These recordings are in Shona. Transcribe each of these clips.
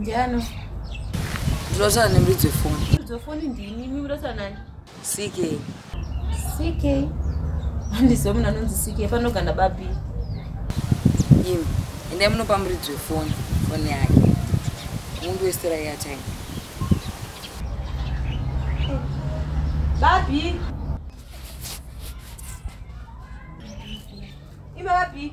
Ndiano. Ndinotaura nemuridzo wefoni. Muridzo wefoni ndini, imi munotaura nani? CK. CK. Handiziva munhu anonzi CK, panogana babi. Imi, endai munopa muridzo wefoni, foni yake. Mundu wesitera airtime. Babi. Ima babi.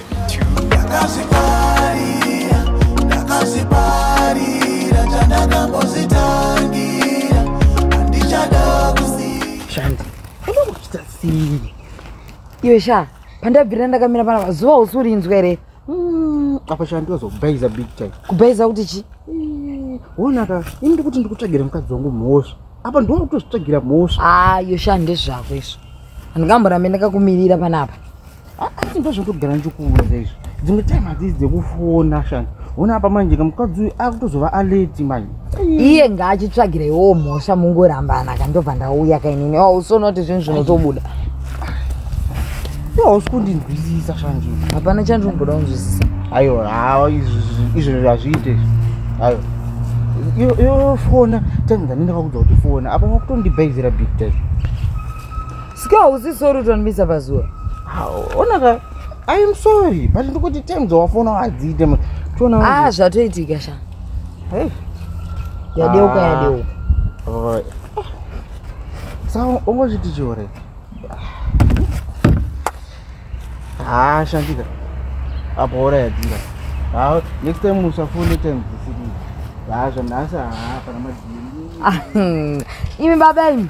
iwe sha pandabvirira ndakamira pana pazuva usi urinzwa here mm, apa sha ndozokubaiza big time kubaiza kuti chi mm, wonaka ini ndikuti ndikutsvagira mukadzi wangu mhosva apa ndiona kutozvitsvagira mhosva ayo ah, sha ndezvako izvo handingamborambe ndakakumirira panapa asi ndozvotogara ndichikuudza izvo dzimwe time hadzii dzekufona shani ona apa manje kamukadzi uyu akutozova aleti manje iye ngaachitsvagireiwo mhosva mungorambana kandobva ndauya kainini oh, usonoti zvinhu zvinotobuda hausi kundinzwisisa shanje hapana chandinogoda kunzwisisa ayo hawa izvo hazviite izvo ayo yofona time dzanendakakudza kuti fona apa makutondibhaizira big time Sika hausi sorry utonimisa pazuva. Ona ka I am sorry but ndikuti times wafona wadziite manje. Tona. Ah zvatoitika sha. Hey. Yadeuka ah. yadeuka. Oh. Sawa ungozviti chore. Ah shandika. Apo ora yadzira. Ah next time usafone times dzisiri. Ah zvanhasi ah pana madini. Ah, hmm. Imi baba imi.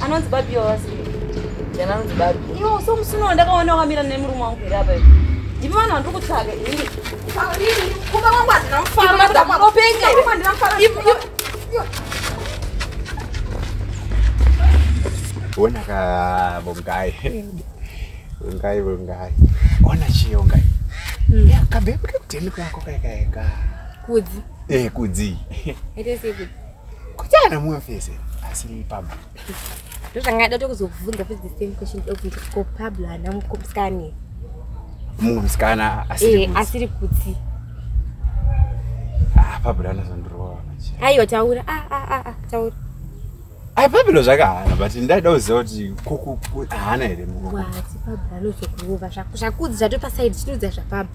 anonzi babi wawasi jana anonzi babi iwo so musina wandakaona wakamira nemurume wangu here apa ndivi vanhu vandiri kutsvaga ini kuba wangu handina mufaro Ona ka bongai. Bongai bongai. Ona chio ngai. Mm. Ya kabebe kutemi kwa kwa kai ka. Kudzi. Eh kudzi. Ete siku. Kutana muwe fese. Asili pamba. ndozvanga ndada kuzokubvunza futi the same question ndokubvunza kuti ko pablo haana mukomskani mumwe musikana asiri eh, asiri kuti ah, pablo anozondirova aiwa taura ah, ah, taura ai pablo zvakahana but ndaida kuziva kuti haana here muati pablo anozokurova zvakudzi zvatopasaidi chitiudza zvapablo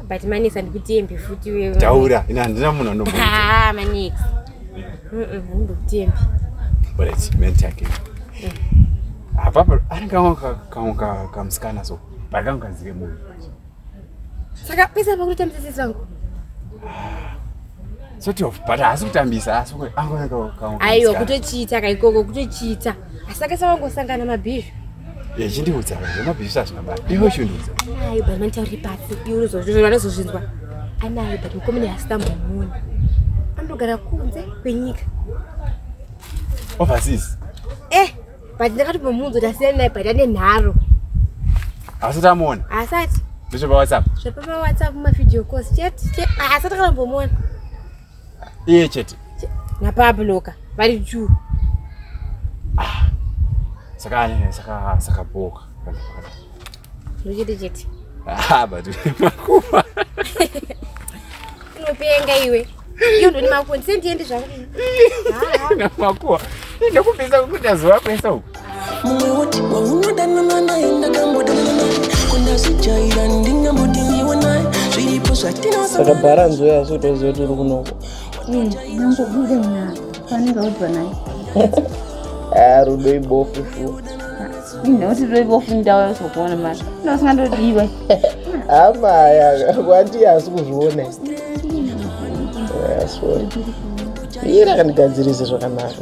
but manix handikutembi futi wewe taura ina handina munhu anobo ah manix handikutembi but it's meant again apapa ari kamwe kamwe kamusikana so but kangu kazike munhu saka pesa pakutotambisa sisi vangu ah, sort of but haasi kutambisa asi angoaaiwa kutochiita kaikoko kutochiita asi akasawangu osangana mabhizhu yechindiudza zvemabhizisa zvinabaa iwe uchindiudza anayo but manitauri pasi iwe uzozvinzwa anozozvinzwa anayo but mukomene hasitambomuona anogara kunze kwenyika overseas eh but ndakatopomuunza kuti asiyani naye but ane nharo asati amuona asati ndozvepawhatsapp zvepamawhatsapp mavideo cos chete asati akambomuona iye chete napabloka vari juu ah, saka saka saka boka ndochete chete ah, but makuva unopenga iwe iyo ndoni makuwa ndisendiende zvakunakuwa ndokupisa kuti azovakwesa uku saka bharanzi uyo asi kutoziva kuti uri kunoko nangobude mna fanenge udwa naye a rudo ibofu shu inoti rudo ibofu ndawa yosokuona mari ndosingandodiwe amaya kwati asi kuzviona ira kandigadzirise zvakanaka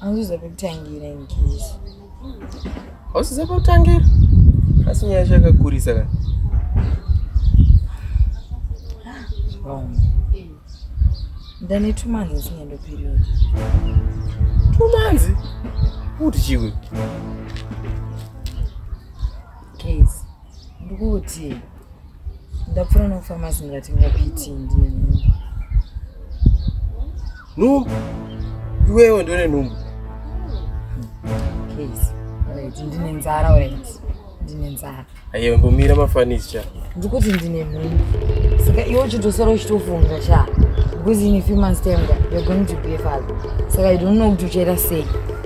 hauziza pekutangira ingezi hauziza pekutangira asi nyaya yacho yakakurisa ka ndane two months ndisingendo period two months kuti chiwe case ndikuti ndapfura nofamasi ndikatenga piti ndine nhumbu nhumbu iwewe ndone nhumbu case right ndine nzara right ndine nzara ayewe mbomira mafanisi cha ndikuti ndine nhumbu saka iwe uchitosara uchitofunga cha because in a few months time you're going to be a father saka i don't know kuti uchaita sei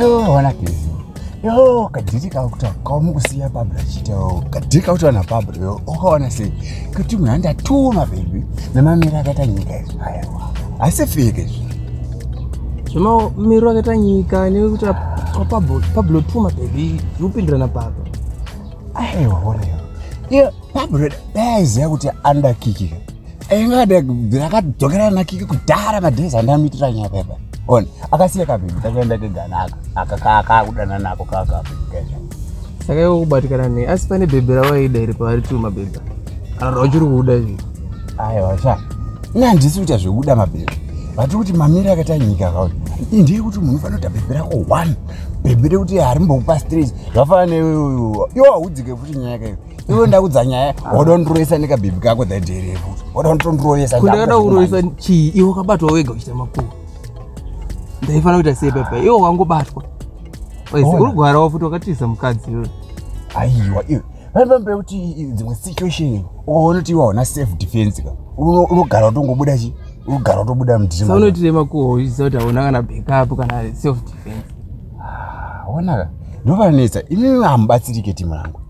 Yoo, wana kezi. Yoo, kadhiri kakuta kamukusiya Barbara achita yoo. Kadhiri kakuta na Barbara yoo. Ukaona sei? Kuti munhu andatuma baby. Namamira akaita nyika izvi. Aiwa. Asi fake izvi. Zvema miro akaita nyika nekuti Pablo Pablo tuma baby. Zvopindirana Pablo. Aiwa, wana yoo. Iyo Barbara daiziva kuti andakikika. akadzokera nakiki kudhara madhezi andamuitira nyaya baba on akasiya kabhebhi kakuenda keganaka aka kaakudana nako kakabhebhikaizva saka iwe kubatikana nei asi pane bhebhi rawaida iri pavari tu mabhebhi kana kuti wachiri kuuda izvi aiwa sha ini handisi kuita zvekuda mabhebhi vati kuti mamiri akaita nyika kauri ndiri kuti munhu fanoita bhebhi rako one bhebhi rekuti harimbokupa stress zvafana neweyo yo haudzike futi nyaya yakaio iwe ndakudza nyaya wadondiroyesa nekabibi kako dhadherevo wadondiroyesa kundakada kuroyesa chii iwe wakabatwa wega uchita makuwa ndaifanira kuita sei papa iwe wangobatwa uri gwara wafuti wakatiza mukadzi iwe aiwa iwe vaipamba kuti dzimwe situation ukaona kuti iwe hauna safe defense ka unogara utongobuda chi unogara utobuda mdinoitire makuwa uchiziva kuti hauna kana backup kana self defense Ah, onaka ndovanetsa imimi hamubatsirike timu rangu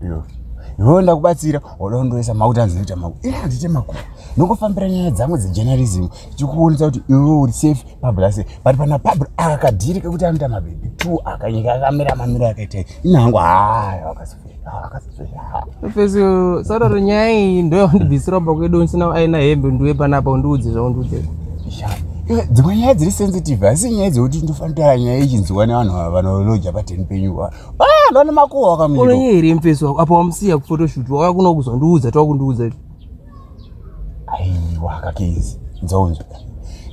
iwewe ndakubatsira wada kundoisa makuti anzi noita maku ii handite maku nokufambira nyaya dzangu dzejournalism tichikuonesa kuti iwewe uri safe pablase but pana pabl akakadhiri kekuti anoita mabhebhi two akanyika akamira mamiro akaita ini hangu haya wakasi Fesi sararo nyaya iyi ndo yawandibvisira pa kwedu ndisina aina hembe ndiwe panapa undiudze zvaundiudze. Dzimwe nyaya dziri sensitive asi nyaya dzekuti ndofanira nyaya ichinziwa nevanhu vanoloja pateni penyu va. Ah, ndona makuwa wakamira. Une nyaya iri mfesi wako apa wamusiya kuphotoshoot wauya kuno kuzondiudza twa kundiudza. Aiwa kakezi. Dzonzwa.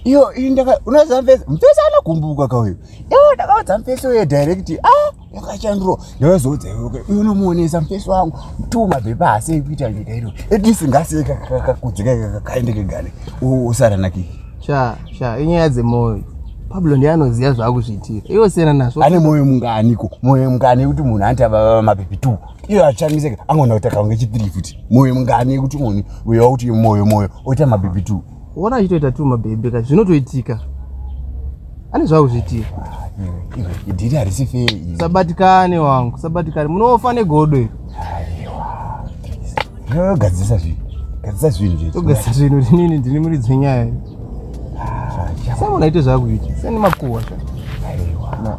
Iyo iyi ndaka unoziva mfesi mfesi anogumbuka kauyo. Iwo ndakaudza mfesi uye direct. Ah yakachanduro ndavazoudza iwe iwe unomuonesa mufesi wangu two mapepa haasi ekuita nyika ino at least ngasiye kakakudzika kakaende kegane usaranaki sha sha inyaya dzemwoyo pablo ndiye anoziva zvaakuzviitira iwe siyana nazvo ane mwoyo munganiko mwoyo mungani yekuti munhu anti avava mapepi two iyo achangiseka angoona kuti akaunge chitiri futi mwoyo mungani yekuti munhu uya kuti mwoyo mwoyo oita mapepi two Wona achitoita tu mabebe ka zvinotoitika. Ani zvawo zvitii? Idiri harisi fair. Sabatikane wangu, sabatikane. Munofa negodo iri. Aiwa. Gadzisa zvinhu. Gadzisa zvinhu zvedu. Gadzisa zvinhu rinini ndini muri dzenyaya. Sasa unaita zvakuita. Sani makuwa sha. Aiwa. Na.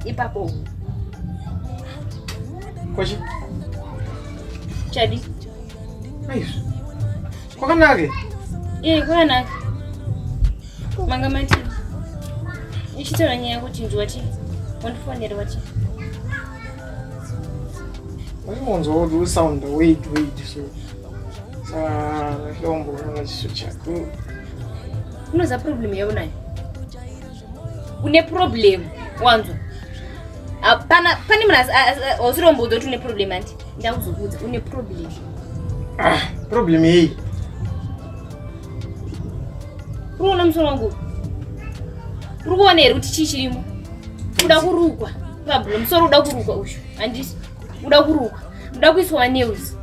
Ipapo. Kwachi? Chadi. Aizvi. Kwakanake? Eh, kwakanake. Manga mati. Ichitaura nyaya kuti ndiwati. Wandifonera wati. Waimonzwa kuti usound wait wait so. Saka hlombo unoona chiso chako. Unoza problem yaunayo. une problem wanzwa hapana pane munhu ausiromboudza kuti une problem andi ndakuzokuudza une problem ah, problem yei unoona musoro wangu uri kuona here kuti chii chirimo uda kurukwa pablo musoro uda kurukwa uyu handisi uda kurukwa uda kuiswa news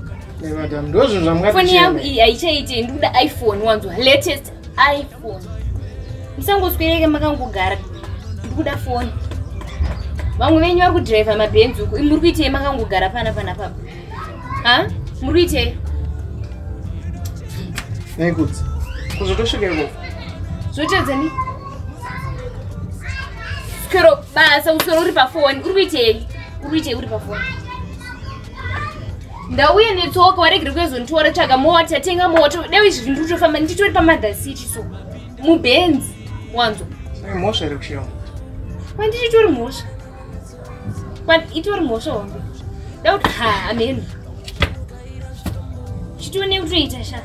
foni yangu iyi haichaite ndikuda iphone wanzwa latest iphone musangoswereke makangogara ndikuda foni vamwe venyu vari kudhiraivha mabhenzi uku muri kuitei makangogara pana pana papa ha muri kuitei nekudzi kuzotosvika ikoko zvotedzani swero basa uswero uri pafoni uri kuitei uri kuitei uri pafoni ndauye netsoka waregere kuezonditora tsvaga mota tenga mota deo izvi zvinhu ndikutofamba nditori pamother city so mubenzi wanzwa mhosva iri kushira kwanditi itori mhosva itori mhosva hombe dauti ha ameno chitione kutoita sha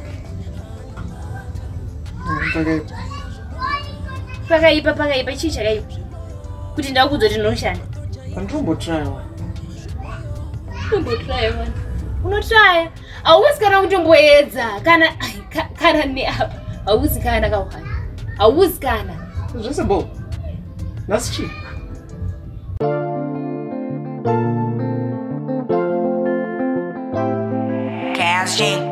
pakaipa pakaipa chii chakaipa kuti ndakudzo tinoshanda anditombotraiwa unotraya hauwezi kana kutomboedza kana kana neapa hauwezi kana kauhani hauwezi kana zvese bo nhasi chii Casting.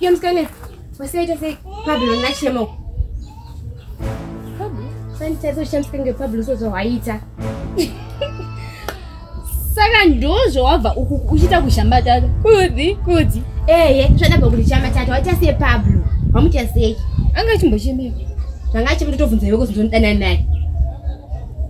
Iyo mskane, wasaita se Pablo na Chemo. Pablo? Sani tazo shamska nge Pablo sozo waita. Saka ndozvo wabva uku uchita kushamba tata. Kudzi, kudzi. Eh, eh, zvada bva kuti chamba tata waita se Pablo. Wamuta sei? Anga chimbochemeka. Zvanga chimbo totobvunza iwe kuti ndondanana naye.